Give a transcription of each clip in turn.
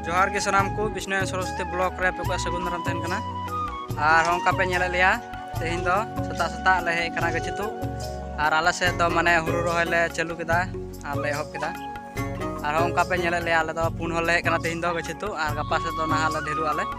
ᱡᱚᱦᱟᱨ ᱜᱮ ᱥᱟᱱᱟᱢ ᱠᱚ ᱵᱤᱥᱱᱩ ᱥᱚᱨᱚᱥᱚᱛᱤ ᱵᱞᱚᱠ ᱨᱮ ᱟᱯᱮ ᱠᱚᱣᱟᱜ ᱥᱟᱹᱜᱩᱱ ᱫᱟᱨᱟᱢ ᱛᱟᱦᱮᱱ ᱠᱟᱱᱟ ᱟᱨ ᱚᱱᱠᱟ ᱯᱮ ᱧᱮᱞᱮᱫ ᱞᱮᱭᱟ ᱛᱮᱦᱮᱧ ᱫᱚ ᱥᱮᱛᱟᱜ ᱥᱮᱛᱟᱜ ᱞᱮ ᱦᱮᱡ ᱠᱟᱱᱟ ᱜᱟᱹᱪᱷᱤ ᱛᱩᱫ ᱟᱨ ᱟᱞᱮ ᱥᱮᱫ ᱫᱚ ᱢᱟᱱᱮ ᱦᱩᱲᱩ ᱨᱚᱦᱚᱭ ᱞᱮ ᱪᱟᱹᱞᱩ ᱠᱮᱫᱟ ᱟᱨ ᱞᱮ ᱮᱦᱚᱵ ᱠᱮᱫᱟ ᱟᱨᱦᱚᱸ ᱚᱱᱠᱟ ᱯᱮ ᱧᱮᱞᱮᱫ ᱞᱮᱭᱟ ᱟᱞᱮ ᱫᱚ ᱯᱩᱱ ᱦᱚᱲ ᱞᱮ ᱦᱮᱡ ᱠᱟᱱᱟ ᱛᱮᱦᱮᱧ ᱫᱚ ᱜᱟᱹᱪᱷᱤ ᱛᱩᱫ ᱟᱨ ᱜᱟᱯᱟ ᱥᱮᱫ ᱫᱚ ᱱᱟᱦᱟᱜ ᱞᱮ ᱰᱷᱮᱨᱚᱜ ᱟᱞᱮ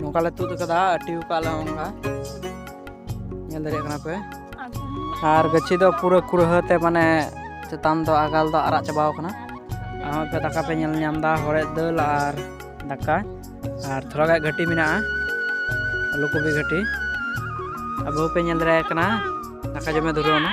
ᱱᱚᱝᱠᱟ ᱞᱮ ᱛᱩᱫ ᱟᱠᱟᱫᱟ ᱟᱹᱴᱤ ᱟᱠᱟᱫ ᱞᱮ ᱱᱚᱝᱠᱟ ᱧᱮᱞ ᱫᱟᱲᱮᱭᱟᱜ ᱠᱟᱱᱟ ᱯᱮ ᱟᱨ ᱜᱟᱹᱪᱷᱤ ᱫᱚ ᱯᱩᱨᱟᱹ ᱠᱩᱲᱦᱟᱹ ᱛᱮ ᱢᱟᱱᱮ ᱪᱮᱛᱟᱱ ᱫᱚ ᱟᱜᱟᱞ ᱫᱚ ᱟᱨᱟᱜ ᱪᱟᱵᱟᱣ ᱟᱠᱟᱱᱟ ᱟᱨ ᱯᱮ ᱫᱟᱠᱟ ᱯᱮ ᱧᱮᱞ ᱧᱟᱢ ᱮᱫᱟ ᱦᱚᱲᱮᱫ ᱫᱟᱹᱞ ᱟᱨ ᱫᱟᱠᱟ ᱟᱨ ᱛᱷᱚᱲᱟ ᱜᱟᱱ ᱜᱷᱟᱹᱴᱤ ᱢᱮᱱᱟᱜᱼᱟ ᱟᱞᱩ ᱠᱚᱯᱤ ᱜᱷᱟᱹᱴᱤ ᱟᱵᱚ ᱯᱮ ᱧᱮᱞ ᱫᱟᱲᱮᱭᱟᱜ ᱠᱟᱱᱟ ᱫᱟᱠᱟ ᱡᱚᱢᱮ ᱫᱷᱩᱨᱟᱹᱣ ᱮᱱᱟ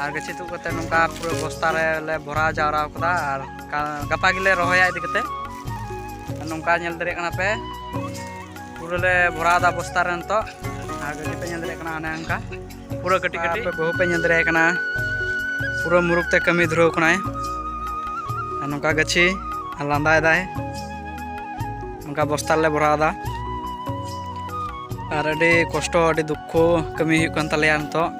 ᱟᱨ ᱜᱟᱹᱪᱷᱤ ᱛᱩᱫ ᱠᱟᱛᱮ ᱱᱚᱝᱠᱟ ᱯᱩᱨᱟᱹ ᱵᱚᱥᱛᱟ ᱨᱮᱞᱮ ᱵᱷᱚᱨᱟᱣ ᱡᱟᱣᱨᱟ ᱟᱠᱟᱫᱟ ᱟᱨ ᱜᱟᱯᱟ ᱜᱮᱞᱮ ᱨᱚᱦᱚᱭᱟ ᱤᱫᱤ ᱠᱟᱛᱮ ᱱᱚᱝᱠᱟ ᱧᱮᱞ ᱫᱟᱲᱮᱭᱟᱜ ᱠᱟᱱᱟ ᱯᱮ ᱯᱩᱨᱟᱹ ᱞᱮ ᱵᱷᱚᱨᱟᱣ ᱮᱫᱟ ᱵᱚᱥᱛᱟ ᱨᱮ ᱱᱤᱛᱚᱜ ᱟᱨ ᱜᱟᱹᱪᱷᱤ ᱯᱮ ᱧᱮᱞ ᱫᱟᱲᱮᱭᱟᱜ ᱠᱟᱱᱟ ᱚᱱᱮ ᱚᱱᱠᱟ ᱯᱩᱨᱟᱹ ᱠᱟᱹᱴᱤᱡ ᱠᱟᱹᱴᱤᱡ ᱵᱟᱹᱦᱩ ᱯᱮ ᱧᱮᱞ ᱫᱟᱲᱮᱭᱟᱜ ᱠᱟᱱᱟ ᱯᱩᱨᱟᱹ ᱢᱩᱨᱩᱠ ᱛᱮ ᱠᱟᱹᱢᱤ ᱫᱷᱩᱨᱟᱹᱣ ᱠᱟᱱᱟᱭ ᱟᱨ ᱱᱚᱝᱠᱟ ᱜᱟᱹᱪᱷᱤ ᱞᱟᱸᱫᱟᱭᱮᱫᱟᱭ ᱱᱚᱝᱠᱟ ᱵᱚᱥᱛᱟ ᱨᱮᱞᱮ ᱵᱷᱚᱨᱟᱣ ᱮᱫᱟ ᱟᱨ ᱟᱹᱰᱤ ᱠᱚᱥᱴᱚ ᱟᱹᱰᱤ ᱫᱩᱠᱠᱷᱚ ᱠᱟᱹᱢᱤ ᱦᱩᱭᱩᱜ ᱠᱟᱱ ᱛᱟᱞᱮᱭᱟ ᱱᱤᱛᱚᱜ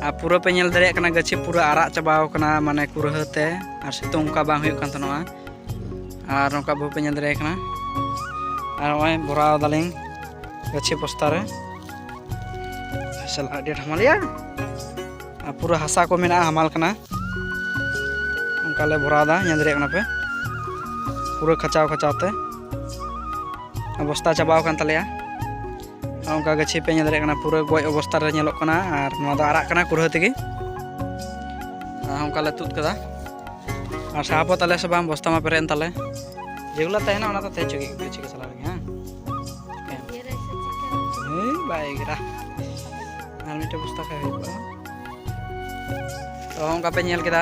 ᱟᱨ ᱯᱩᱨᱟᱹ ᱯᱮ ᱧᱮᱞ ᱫᱟᱲᱮᱭᱟᱜ ᱠᱟᱱᱟ ᱜᱟᱹᱪᱷᱤ ᱯᱩᱨᱟᱹ ᱟᱨᱟᱜ ᱪᱟᱵᱟᱣ ᱠᱟᱱᱟ ᱢᱟᱱᱮ ᱠᱩᱨᱦᱟᱹ ᱛᱮ ᱟᱨ ᱥᱤᱛᱩᱝ ᱚᱱᱠᱟ ᱵᱟᱝ ᱦᱩᱭᱩᱜ ᱠᱟᱱ ᱛᱟᱦᱮᱱᱚᱜᱼᱟ ᱟᱨ ᱱᱚᱝᱠᱟ ᱵᱟᱹᱦᱩ ᱯᱮ ᱧᱮᱞ ᱫᱟᱲᱮᱭᱟᱜ ᱠᱟᱱᱟ ᱟᱨ ᱱᱚᱜᱼᱚᱭ ᱵᱷᱚᱨᱟᱣ ᱫᱟᱞᱤᱧ ᱜᱟᱹᱪᱷᱤ ᱵᱚᱥᱛᱟ ᱨᱮ ᱥᱟᱞᱟ ᱟᱹᱰᱤ ᱦᱟᱢᱟᱞ ᱜᱮᱭᱟ ᱟᱨ ᱯᱩᱨᱟᱹ ᱦᱟᱥᱟ ᱠᱚ ᱢᱮᱱᱟᱜᱼᱟ ᱦᱟᱢᱟᱞ ᱠᱟᱱᱟ ᱚᱱᱠᱟ ᱞᱮ ᱵᱷᱚᱨᱟᱣᱫᱟ ᱧᱮᱞ ᱫᱟᱲᱮᱭᱟᱜ ᱠᱟᱱᱟ ᱯᱮ ᱯᱩᱨᱟᱹ ᱠᱷᱟᱪᱟᱣ ᱠᱷᱟᱪᱟᱣ ᱛᱮ ᱚᱵᱚᱥᱛᱟ ᱪᱟᱵᱟᱣ ᱟᱠᱟᱱ ᱛᱟᱞᱮᱭᱟ ᱚᱱᱠᱟ ᱜᱟᱹᱪᱷᱤ ᱯᱮ ᱧᱮᱞ ᱫᱟᱲᱮᱭᱟᱜ ᱠᱟᱱᱟ ᱯᱩᱨᱟᱹ ᱜᱚᱡ ᱚᱵᱚᱥᱛᱟ ᱨᱮ ᱧᱮᱞᱚᱜ ᱠᱟᱱᱟ ᱟᱨ ᱱᱚᱣᱟ ᱫᱚ ᱟᱨᱟᱜ ᱠᱟᱱᱟ ᱠᱩᱲᱦᱟᱹ ᱛᱮᱜᱮ ᱚᱱᱠᱟ ᱞᱮ ᱛᱩᱫ ᱠᱟᱫᱟ ᱟᱨ ᱥᱟᱦᱟᱯᱚ ᱛᱟᱞᱮ ᱥᱮ ᱵᱟᱝ ᱵᱚᱥᱛᱟ ᱢᱟ ᱯᱮᱨᱮᱡ ᱮᱱ ᱛᱟᱞᱮ ᱡᱮᱜᱩᱞᱟ ᱛᱟᱦᱮᱱᱟ ᱚᱱᱟ ᱫᱚ ᱛᱟᱦᱮᱸ ᱪᱚᱜᱮ ᱜᱟᱹᱪᱷᱤ ᱠᱚ ᱥᱟᱞᱟᱜ ᱨᱮᱜᱮ ᱦᱮᱸ ᱵᱟᱭ ᱜᱮᱨᱟ ᱟᱨ ᱢᱤᱫᱴᱮᱡ ᱵᱚᱥᱛᱟ ᱠᱷᱟᱡ ᱦᱩᱭ ᱠᱚᱜᱼᱟ ᱛᱚ ᱚᱱᱠᱟ ᱯᱮ ᱧᱮᱞ ᱠᱮᱫᱟ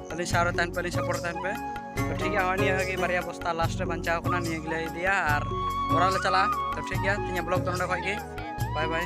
ᱟᱞᱮ ᱥᱟᱶ ᱨᱮ ᱛᱟᱦᱮᱱ ᱯᱮ ᱟᱞᱮ ᱥᱟᱯᱚᱨᱴ ᱛᱟᱦᱮᱱ ᱯᱮ ᱛᱚ ᱴᱷᱤᱠ ᱜᱮᱭᱟ ᱱᱤᱭᱟᱹ ᱜᱮ ᱵᱟᱨᱭᱟ ᱵᱚᱥᱛᱟ ᱞᱟᱥᱴ ᱨᱮ ᱵᱟᱧᱪᱟᱣ ᱠᱟᱱᱟ ᱱᱤᱭᱟᱹ ᱜᱮᱞᱮ ᱤᱫᱤᱭᱟ ᱟᱨ ᱚᱲᱟᱜ ᱞᱮ ᱪᱟᱞᱟᱜᱼᱟ ᱛᱚ ᱴᱷᱤᱠ ᱜᱮᱭᱟ ᱛᱤᱧᱟᱹᱜ ᱵᱞᱚᱜ ᱫᱚ ᱱᱚᱰᱮ ᱠᱷᱚᱡ ᱜᱮ ᱵᱟᱭ ᱵᱟᱭ